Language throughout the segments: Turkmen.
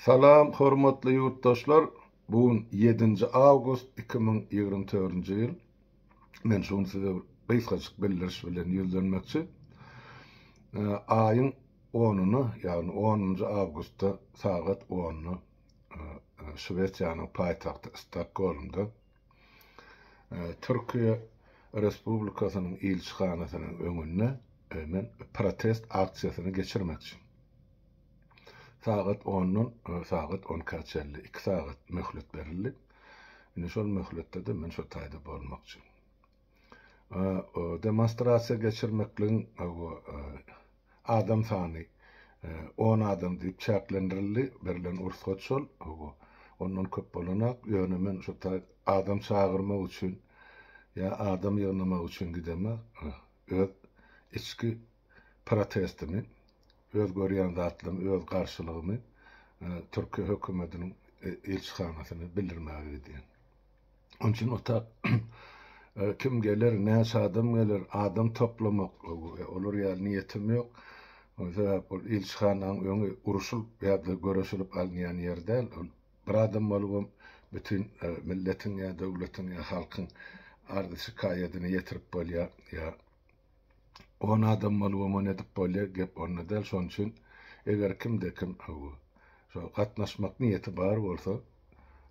Salam hormatly ýurtdaşlar bu gün ýedinji awgust iki müň ýigrimi törünji ýyl men şu gün size gysgajyk bildiriş bilen ýüzlenmekçi aýyň onyna ýagny onunjy awgustda sagat onda şwesiýanyň paýtagty stokgolmda türkiýe respublikasynyň ilçihanasynyň öňünde men protest aksiýasyny geçirmekçi. Sagat ondan sagat on ikä çenli iki sagat möhlet berildi. Indi şol möhletde-de men şo taýda bolmakçy. Demonstrasiýa geçirmekligiň adam sany on adam diýip çäklendirildi, berlen rugsat şol, ondan köp bolanok, ýöne men şo taý adam çagyrmak üçin ýa adam ýygnamak üçin gidemok, öz içki protestimi, öz görýän zatlarymy, öz garşylygymy türki hökümetiniň ilçihanasyna bildirmäge gidýän. Onuň üçin otap kim geler, näçe adam geler, adam toplamak, olar ýaly niýetim ýok. Ol sebäp ol ilçihananyň öňi uruşylyp ýa-da göreşilip alynýan ýer däl. Ol bir adam bolubam bütin milletiň ýa döwletiň ýa halkyň arz-şikaýadyny ýetirip bolýar ýa On adam bolup oňa nädip bolýa gep onda däl şoň üçin eger kimde kim bu şo gatnaşmak niýeti bar bolsa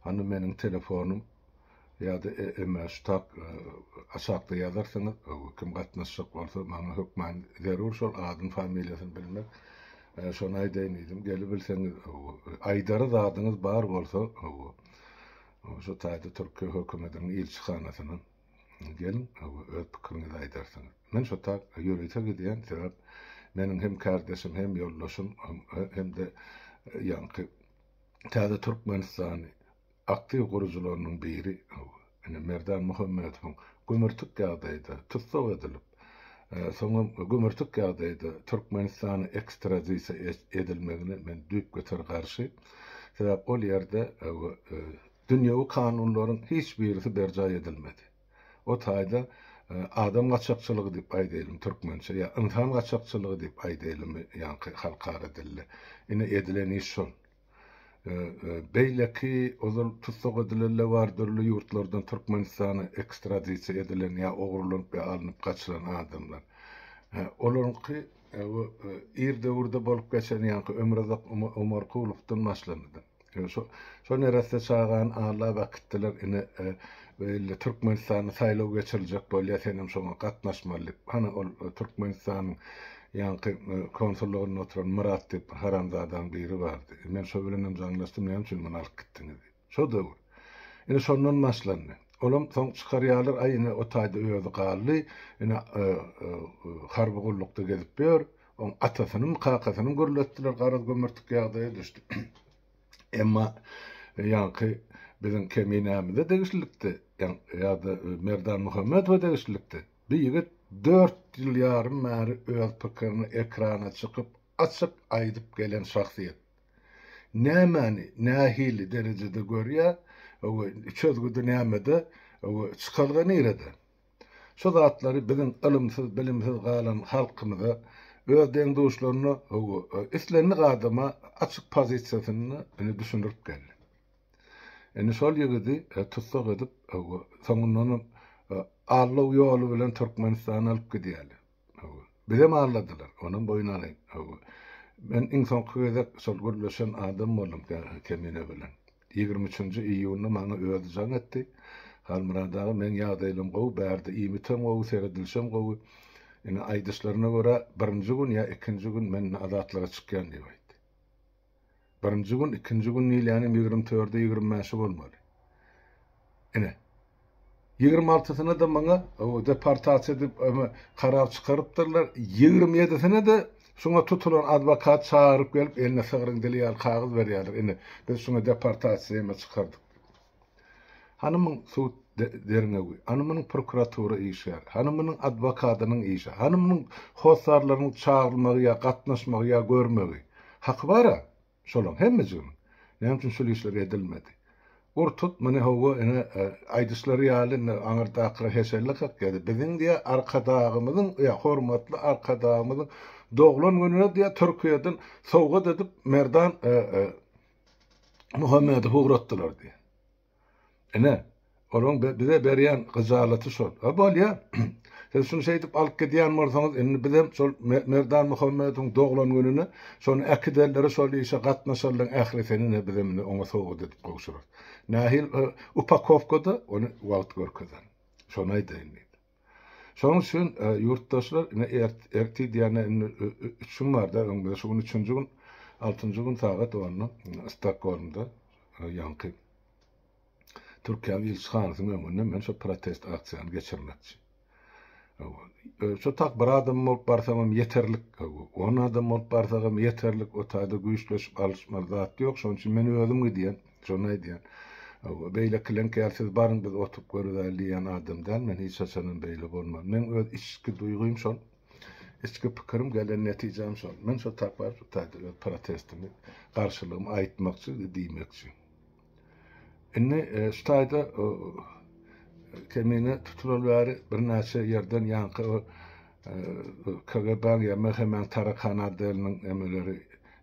hany meniň telefonym ýada eme şu tak aşakda ýazarsyňyz bu kim gatnaşjak bolsa maňa hökman zerur şol adyn familiýasyny bilmek şony aýdaýyn diýdim gelibilseňiz bu aýdary zadyňyz bar bolsa bu şu taýda türkiýe hökümetiniň ilçihanasynyň Geliň, öz pikiriňizi aýdarsyňyz. Men şo tar ýörite gidýän, sebäp meniň hem kärdeşim, hem ýoldaşym, hem-de ýaňky Täze Türkmenistany aktiw gurujylarynyň biri, ine, Merdan Muhammedowyň gömürtik ýagdaýda tussag edilip, soňam gömürtik ýagdaýda Türkmenistana ekstradisiýa edilmegine men düýpgöter garşy. Sebäp ol ýerde Dünýewi kanunlaryň hiç birisi berjaý edilmedi. O taýda adam gaçakçylygy diýip aýdaýlymy türkmençe ýa ynsan gaçakçylygy diýip aýdaýlymy ýaňky halkara dilde. Ine edilen iş şol. Beýleki ozal tussag edilenler bar dürli ýurtlardan Türkmenistana ekstradisiýa edilen ýa ogrulanyp ýa alnyp gaçylan adamlar. Olaryňky bu ir döwürde bolup geçen ýaňky Ömürazak Omarkulowdan başlandy. Şo neresse çagany Alla bakytdylar ine beýle Türkmenistanda saýlaw geçiriljek bolýa senem şoňa gatnaşmaly diýip hany ol Türkmenistanyň ýaňky konsullygynda oturan Myrat diýip bir haramzadaň biri bardy men şo bilenem jaňlaşdym näme üçin muny alyp gitdiňiz diýip şo döwür ine şondan başlandy olam soň çykarýalar aý ine o taýda özi galdy ine harby gullukda gezip ýör. Oň atasynyň, kakasynyň gürletdiler, garaz gömertik ýagdaýa düşdi. Emma ýaňky biziň Keminämize degişlilikdi, ýa-da Merdan Muhammedowa degişlilikdi. Bu ýigit dört ýyl ýarym bäri öz pikirini ekrana çykyp, açyk aýdyp gelen şahsyýet. Nämäni nähili derejede görýär we çözgüdi nämede we çykalga nirede? Şu zatlary biziň ylymsyz, bilimsiz galan halkymyza, öz deň-duşlaryna, hawa, islendik adama açyk pozisiýasynda indi düşündirip geldi. Indi şol ýigidi tussag edip, hawa, soňundanam allaw ýoly bilen Türkmenistana alyp gidýärler. Hawa. Bizem alladylar. Onam boýun alaý. Hawa. Men iň soňky gezek şol gürleşen adam boldum kä Kemine bilen. Ýigrimi üçünji iýunda maňa özi jaň etdi. Halmyrat aga meň ýagdaýlam gowy, bärde iýmitem gowy, seredilişem gowy. Ine aýdyşlaryna görä birinji gün ýa ikinji gün men ine azatlyga çykýan diýip aýtdy. Birinji gün, ikinji gün Nilýanyň ýigrimi tördi, ýigrimi bäşi bolmaly. Ine, ýigrimi altysyna-da maňa deportasiýa edip, karar çykarypdyrlar, ýigrimi ýedisine-de şuňa tutulan adwokat çagyryp gelip, eline sygryň dili ýaly kagyz berýärler, ine, biz şuňa deportasiýa hem çykardyk diýip. Hany muň sud derňewi, hany munyň prokuratura işi, hany munyň adwokadynyň işi, hany munyň hossarlarynyň çagyrylmagy ýa gatnaşmagy ýa görmegi? Haky bar-a şolaň hemmejiginiň. Näme üçin şul işler edilmedi? Ur-tut muny hawa ine aýdyşlary ýaly indi aňyrdakyra heşellekak ýa-da biziň diýä Arkadagymyzyň ýa hormatly Arkadagymyzyň doglan gününe diýä Türkiýeden sowgat edip Merdan Muhammedi hugratdylar diýýär. Ine, olaň bize berýän hyjalaty şol. A bolýa, siz şuny şeýdip alyp gidýän bolsaňyz, indi bizem şol Merdan Muhammediň doglan gününe şony äkiderler, şol işe gatnaşarlaň ählisini-de bizem indi oňa sowgat edip gowşurarys. Nähili upakowkada, ony wagt görkezer. Şony aýdaýyn diýdi. Şonuň üçin ýurtdaşlar ine ertir diýende indi üç gün barda öň bize şu gün üçünji gün altynjy gün sagat onda Stokgolmda ýaňky Türkiýäniň ilçihanasynyň öňünde men şu protest aksiýany geçirmekçi. Şu tak bir adam bolup barsam hem ýeterlik, on adam bolup barsam hem ýeterlik, o taýda güýçleşip alyşmaly zat ýok, şonuň üçin men özüm gidýän. Şony aýdýan. Beýlekileňki ýaly siz baryň biz oturyp görüzäýeli diýýän adam däl men hiç haçanam beýle bolman. Meň öz içki duýgym şol. Içki pikirim gelen netijäm şol. Men şo tak baryp şu taýda öz protestimi, garşylygymy aýtmakçy we diýmekçi. Indi e, şu taýda kemine tutulan bäri birnäçe ýerden ýaňky o e, KGB-niň ýa MHM-niň tarakan adelynyň emeleri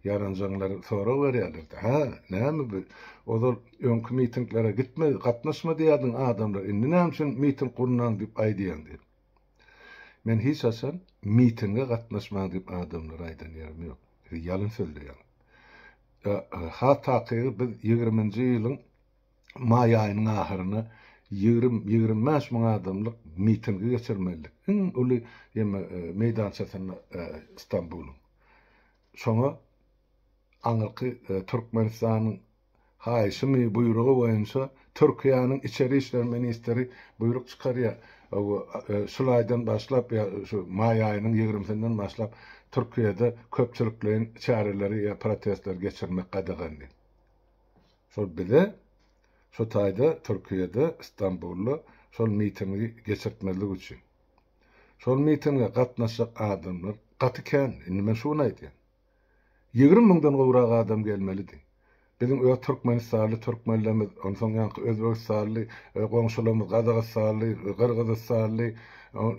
Ýaranjaňlar sorag berýärlerdi, Hä, näme bu? Ozal öňki mitinglere gitme, gatnaşma diýýärdiň adamlara, indi näme üçin miting gurnaň diýip aýdýaň diýip. Men hiç haçan mitinge gatnaşmaň diýip adamlara aýdan ýerim ýok. Siz ýalyn sözleýäňiz. Has takygy biz ýigriminji ýylyň maý aýynyň ahyryna ýigrimi, ýigrimi bäş müň adamlyk mitingi geçirmelidik. Iň uly ýeme meýdançasynda Stambulyň. Şoňa aňyrky Türkmenistanyň haýyşymy, buýrugy boýunça Türkiýäniň Içeri işler ministri buýruk çykarýar. Şul aýdan başlap, ýa şu maý aýynyň ýigrimisinden başlap Türkiýede köpçülikleýin çäreleri ýa protestleri geçirmek gadagan diýip. Şol bize şu taýda Türkiýede, Stambulda şol mitingi geçirtmezlik üçin. Şol mitinge gatnaşjak adamlar gaty kän, indi men şu gün aýdýan. Ýigrimi müňden gowrak adam gelmelidi. Biziň öz türkmenistanly türkmenlerimiz, onsoň ýaňky özbegistanly, goňşularymyz gazagystanly, gyrgyzystanly,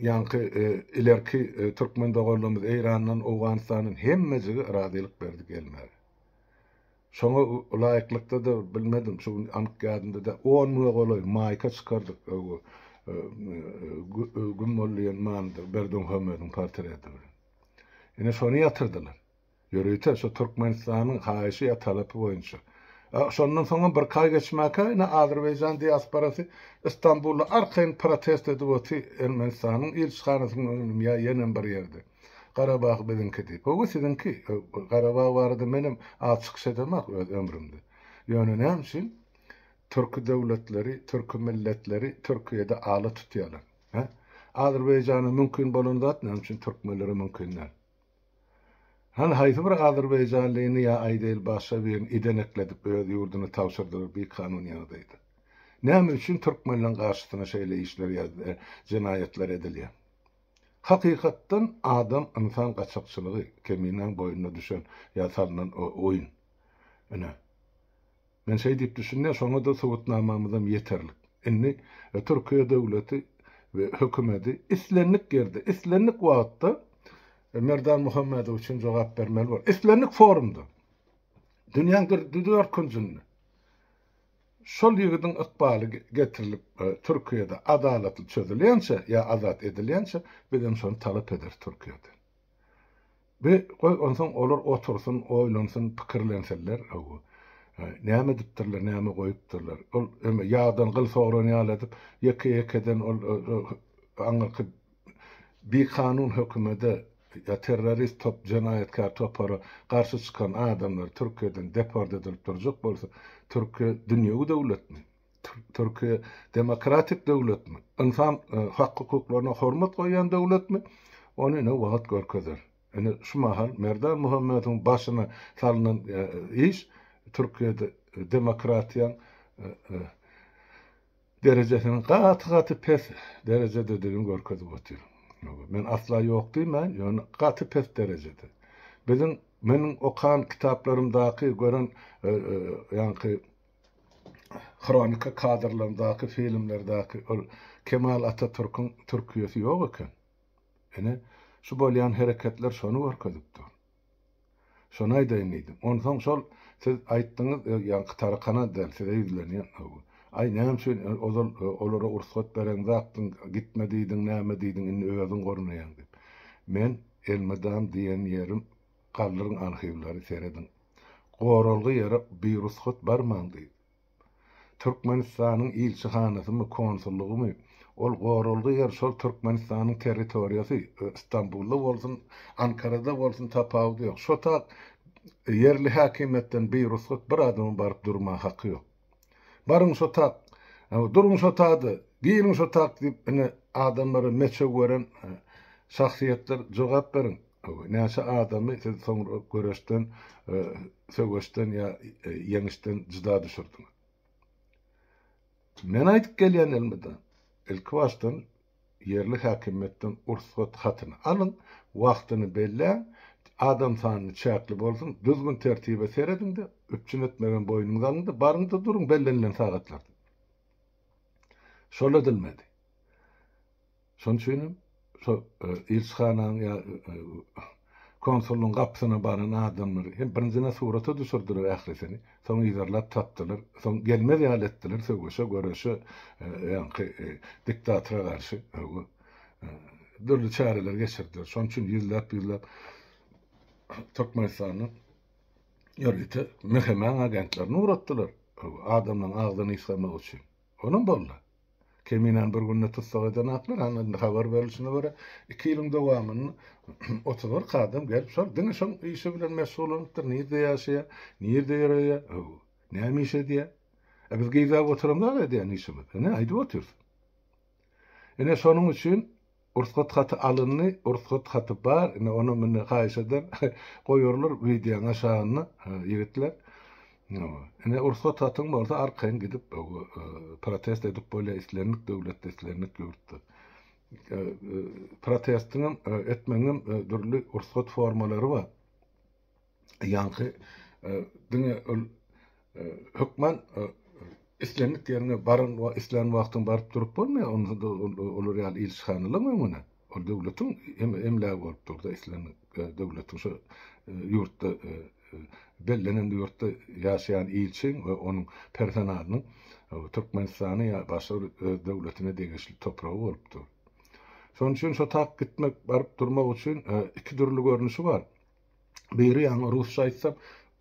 ýaňky ilerki türkmen doganlarymyz Eýrandan, Owganystandan hemmejigi razylyk berdi gelmäge. Şoňa laýyklykda-da bilmedim, şu gün anyk ýadymda-da, on müňe golaý maýka çykardyk, öo, güm boldy ýen manydyr, Berdimuhamedowyň portreti bilen. Ine, şony ýatyrdylar. Ýörite şu Türkmenistanyň haýyşy ýa talapy boýunça. A şondan soňam birki aý geçmäkä, ine, azerbaýjan diasporasy Istanbulda arkaýyn protest edip otyr, Ermenistanyň ilçihanasynyň öňündemi ýa ýenem bir ýerde. Garabag biziňkidi. Höwwi siziňki. Garabag barada menem az çykyş edemak öz ömrümde. Ýöne näme üçin Türki döwletleri, Türki milletleri Türkiýede ala tutýalar? He? Azerbaýjana mümkin bolan zat näme üçin Türkmenlere mümkin däl? Hany haýsy bir Azerbaýjanlyny ýa Aýdel Başa birini idenekledip öz ýurduny tabşyrdylar bi kanun ýagdaýda? Näme üçin Türkmenleň garşysyna şeýle işler ýa jenaýatlar edilýär? Hakykatdan adam ynsan gaçakçylygy keminäň boýnuna düşen ýa salnan oýun. Ine. Men şeý diýip düşünýän şoňada subutnamamyzam ýeterlik. Indi Türkiýe döwleti we hökümedi islendik ýerde, islendik wagtda Merdan Muhammedow üçin jogap bermeli bor. Islendik forumda. Dünýäň dürli dört künjünde. Şol ýigidiň ykbaly getirilip Türkiýede adalatly çözülýänçä ýa azat edilýänçä bizem şony talap ederis Türkiýeden. Bi goý onsoň olar otursyn, oýlansyn, pikirlensinler hawa. Näme edipdirler, näme goýupdyrlar. Ol ýagdan gyl sogran ýaly edip ýeke-ýekeden ol aňyrky bikanun hökümede ýa terrorist top, jenaýatkär topara garşy çykan adamlar Türkiýeden deport edilip durjak bolsa, Türkiýe dünýewi döwletmi? Türkiýe demokratik döwletmi? Ynsan hak-hukuklaryna hormat goýýan döwletmi? Ony ine wagt görkezer. Ine şu mahal Merdan Muhammedowyň başyna salnan iş Türkiýede demokratiýaň derejesiniň gaty-gaty pes derejededigini görkezip otyr. Ýöne men asla ýok diýmän, ýöne gaty pes derejede. Biziň, meniň okan kitaplarymdaky, gören ýaňky hronika kadrlaryndaky, filmlerdäki ol Kemal Atatürküň Türkiýesi ýok eken. Ine, şu bolýan hereketler şony görkezip dur. Şony aýdaýyn diýdim. Onsoň şol siz aýtdyňyz, ýaňky tarakana däl, size ýüzlenýän. Aý, näme üçin ozal olara ursgat bereňzakdyň, gitme diýdiň, näme diýdiň, indi özüň gornaýaň diýip. Men elmydam diýen ýerim, galdyryň arhiwleri, serediň. Goralgy ýere birussat barmaň diýdi. Türkmenistanyň ilçihanasymy, konsullygymy, ol goralgy ýer şol Türkmenistanyň territoriýasy, Stambulda bolsun, Ankarada bolsun tapawudy ýok. Şo tak ýerli häkimiýetden birugsat bir adamyň baryp durma haky ýok. Baryň şo tak, duruň şo tada, giriň şo tak diýip ine adamlara meçew beren şahsyýetler jogap beriň. Näçe adamy siz soňra göreşden, söweşden ýa ýeňişden jyda düşürdiňiz? Men aýdyp gelýän elmydam, ilki başdan ýerli häkimiýetden ursgat hatyny alyň, wagtyny belläň, adam sanyny çäkli bolsun, düzgün-tertibe serediň-de, üpjün etmegem boýnuňyza alyň-da, baryň-da duruň bellenilen sagatlarda. Şol edilmedi. Şonuň üçin hem şo ilçihananyň ýa konsullygyň gapysyna baran adamlary hem birinjiden surata düşürdiler ählisini, soň yzarlap tapdylar, soň gelmez ýaly etdiler, söweşe, göreşe, ýaňky diktatora garşy dürli çäreler geçirdiler. Şonuň üçin ýüzläp-ýüzläp Türkmenistanyň ýörite mehemäň agentlerini ugratdylar, adamlaryň agzyny ysgamak üçin. Onam boldy. Keminäni bir günde tussag edenaklar, ana indi habar berilişine görä, iki ýylyň dowamynda otuz bir kadam gelip, şol diňe şol işi bilen meşgullanypdyr, nirde ýaşaýar, nirde ýöreýär, ho-o, näme iş edýär? A biz geýzäp oturamzak edýän işimiz, ine, aýdyp otyrys. Ine şonuň üçin Rugsat haty alyndy Rugsat haty bar ine onam indi haýyş eder goýarlar wideoň aşagyna ýigitler ine Rugsat hatyň bolsa arkaýyn gidip protest edip bolýar islendik döwletde islendik ýurtda protestiňem etmegiňem dürli Rugsat formalary bar. ýaňky diňe ol hökman islendik ýeriňe baryň we islän wagtyň baryp durup bolmaýar. Onda olar ýaly ilçihanalaryň öňüne ol döwletiň emlägi bolup durdy. Islen döwletiň şu ýurtda bellenen ýurtda ýaşaýan ilçiň we onuň personalynyň Türkmenistany ýa başga bir öz döwletine degişli topragy bolup dur. Şonuň üçin şo tak gitmek, baryp durmak üçin iki dürli görnüşi bar. Biri ýaňy rusça aýtsam,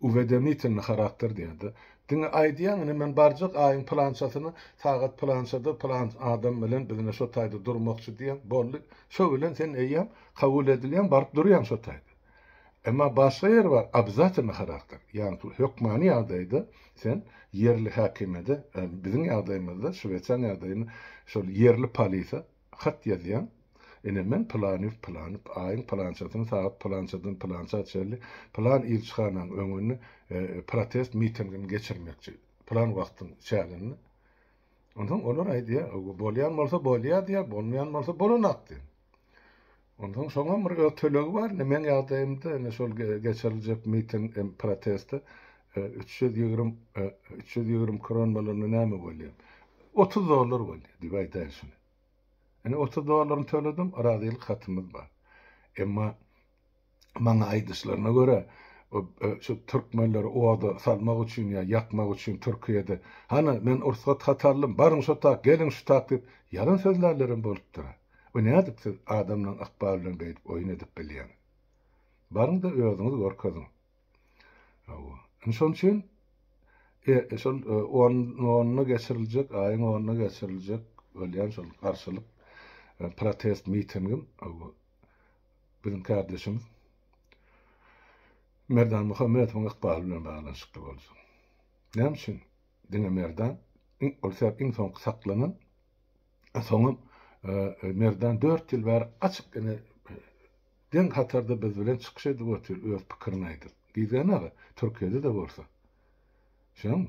uwedomitelnyý harakter diýýärdi. Diňe aýdýaň, ine men barjak aýyň pylançasyna sagat pylançada pylan adam bilen biz ine şo taýda durmakçy diýýäň, boldy. Şo bilen sen eýýäm kabul edilýäň, baryp durýaň şo taýda. Emma başga ýer bar, obzatelnyý harakter. Ýagny şu hökmany ýagdaýda sen ýerli häkimiýede, biziň ýagdaýymyzda, Şwesiýanyň ýagdaýynda şol ýerli polise, Hat ýazýaň. Ine, men Pylanyýew Pylanyp, aýyň pylançasyny sagat pylançadan pylança çenli pylan ilçihanaň öňünde protest mitingini geçirmekçi, pylan wagtyň çäginde. Onsoň olar aýdýar, Bolýan bolsa bolýar diýýär, bolmaýan bolsa bolanak diýýär. Onsoň şoň hem bir öz tölegi bar indi meň ýagdaýymda indi şol geçiriljek miting hem protesti üç ýüz ýigrimi üç ýüz ýigrimi kron bolanda näme bolýar otuz dollar bolýar diýip aýdaýyn şuny indi otuz dollaryny töledim razylyk hatymyz bar emma maňa aýdyşlaryna görä şu türkmenleri oda salmak üçin ýa ýakmak üçin türkiýede hany men ursgat hat aldym baryň şo tak geliň şu tak diýip ýalan sözlärlerem bolupdyr Bu nädip siz adamlaň ykbaly bilen beýdip oýun edip bilýäň? Baryňda özüňiz görkeziň. Hawa. Indi şonuň üçin e, e şol e, on, onuna geçiriljek, aýyň onuna geçiriljek bolýan şol garşylyk e, protest mitingim hawa. Biziň kardeşimiz Merdan Muhammedowyň ykbaly bilen baglanyşykly bolsun. Näme üçin? Diňe Merdan, ol sebäp iň soňky saklanan Soňam Merdan dört ýyl bäri açyk ine deň hatarda biz bilen çykyş edip otyr öz pikirini aýdyp. Gizgen aga Türkiýede-de bolsa. Şoňmy?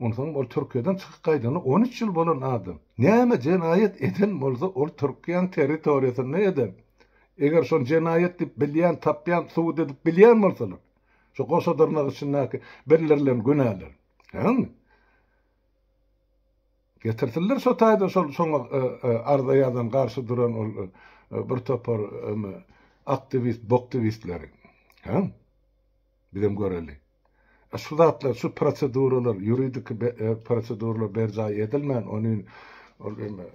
Onsoňam ol Türkiýeden çykyp gaýdana on üç ýyl bolan adam. Näme jenaýat eden bolsa ol Türkiýäň territoriýasynda eder. Eger şony jenaýat diýip bilýän, tapýan, subut edip bilýän bolsalar. Şu goşa dyrnak içindäki bildirilen günäler. Şoňmy? Getirsinler şo taýdan şol şoňa arza ýazan garşy duran ol bir topar eme aktiwist boktiwistleri. Hä? Bizem göreli. A şu zatlar şu proseduralar ýuridiki proseduralar berjaý edilmän ony ol eme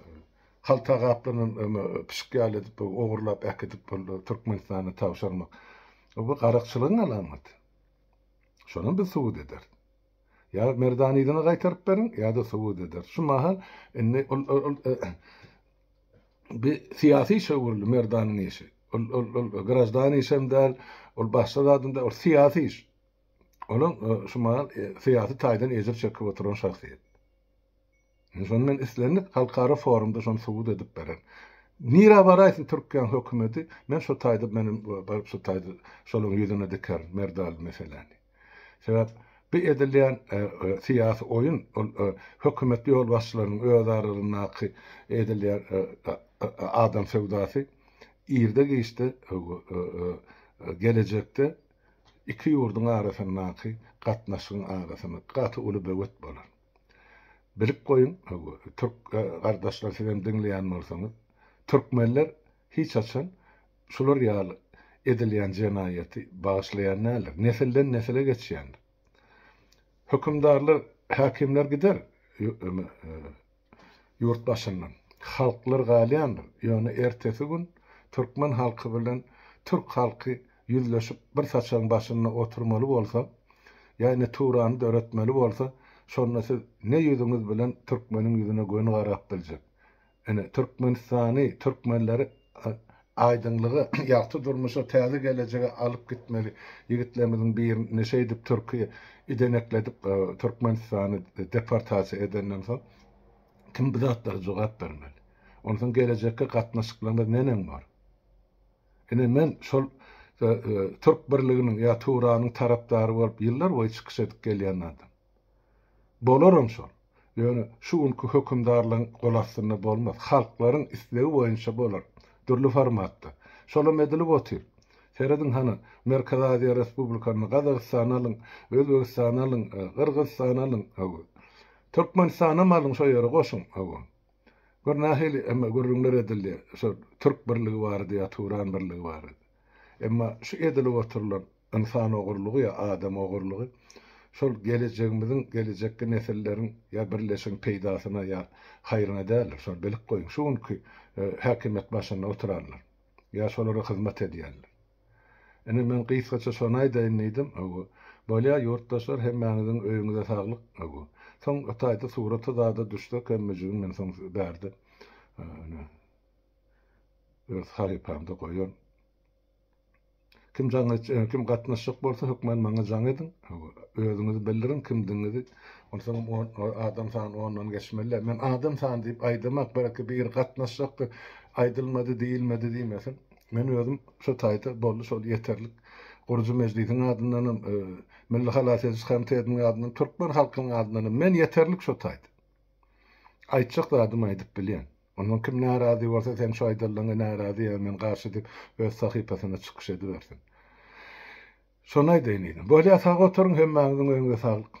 halta gaplanan eme pişik ýaly edip ogurlap äkidip boldy Türkmenistana tabşyrmak. Bu garakçylygyň alamaty. Şonam biz subut ederis. Ýa Merdanyzyny gaýtaryp beriň, ýa-da subut eder. Şu mahal indi ol bi syýasy işe öwrüldi Merdanyň işi. Ol ol ol grajdan işem däl, ol başga zadam däl, ol syýasy iş. Olaň şu mahal syýasy taýdan ejir çekip oturan şahsyýet. Şony men islendik halkara forumda şony subut edip beren. Nirä baraýsyn Türkiýäň hökümeti, men şo taýda menem baryp şo taýda şolaryň ýüzüne dikerin merdal meseläni. Sebäp bu edilýän syýasy oýun ol hökümet ýolbaşçylarynyň öz aralaryndaky edilýän adam söwdasy irde-giçde gelejekde iki ýurduň arasyndaky gatnaşygyň arasyna gaty uly böwet bolar. Bilip goýuň, türk gardaşlar siz hem diňleýän bolsaňyz, türkmenler hiç haçan şular ýaly edilýän jenaýaty bagyşlaýan däldir. Nesilden nesile geçýändir. Hökümdarlar, häkimler gider ýurt başyndan. Halklar galýandyr. Ýöne ertesi gün türkmen halky bilen türk halky ýüzleşip bir saçagyň başynda oturmaly bolsa, ýany turany döretmeli bolsa, şonda siz ne ýüzüňiz bilen türkmeniň ýüzüne göni garap biljek? Ine, Türkmenistany, türkmenleri aýdyňlyga, ýagty durmuşa, täze gelejege alyp gitmeli ýigitlerimiziň birini şeýdip türki idenekledip Türkmenistany deportasiýa edenden soň kim bu zatlara jogap bermeli? Onsoň gelejekki gatnaşyklarymyz neneň bor? Ine men şol Türk birliginiň ýa Tuwranyň tarapdary bolup ýyllar boýy çykyş edip gelýän adam. Bolaram şol. Ýöne şu günki hökümdarlygyň gol astynda bolmaz. Halklaryň islegi boýunça bolar. Dürli formatda. Şolam edilip otyr. Serediň hany, Merkezi Aziýa respublikalaryny, Gazagystany alyň, Özbegistany alyň, Gyrgyzystany alyň, Türkmenistanam alyň şo ýere goşuň. Gör nähili emma gürrüňler edildi, şu türk birligi barada ýa turan birligi barada. Emma şu edilip oturylan ynsan ogurlygy ýa adam ogurlygy şol gelejegimiziň, gelejekki nesilleriň ýa birleşigiň peýdasyna ýa haýryna däldir. Şony bilip goýuň. Şu günki häkimiýet başynda oturanlar ýa şolara hyzmat edýänler. Ine, men gysgaça şony aýdaýyn diýdim. Öwü. Bolýa, ýurtdaşlar, hemmäňiziň öýüňize saglyk. Öwü. Soň Itaýda suraty zada düşse kemmejigin men soň size bärde, ine, öz sahypamda goýaryn. Kim jaň et, kim gatnaşjak bolsa, hökman maňa jaň ediň. Öwü. Özüňizi bildiriň, kimdigiňizi. Onsoňam on, adam sany ondan geçmeli-dä. Men adam sany diýip aýdamak, belki biri gatnaşjakdyr, aýdylmady, diýilmedi diýmesin. Men özüm şu taýda boldy şol ýeterlik. Gurujy Mejlisiň adyndanam, Milli halas ediş komitetiniň adyndanam, türkmen halkynyň adyndanam men ýeterlik şu taýda. Aýtjak zadymy aýdyp bilýän. Ondan kim närazy bolsa seň şu aýdanlaňa närazy ýa men garşy diýip öz sahypasynda çykyş edibersin. Şony aýdaýyn diýdim. Bolýa sag oturyň hemmäňiziň öňüňize saglyk.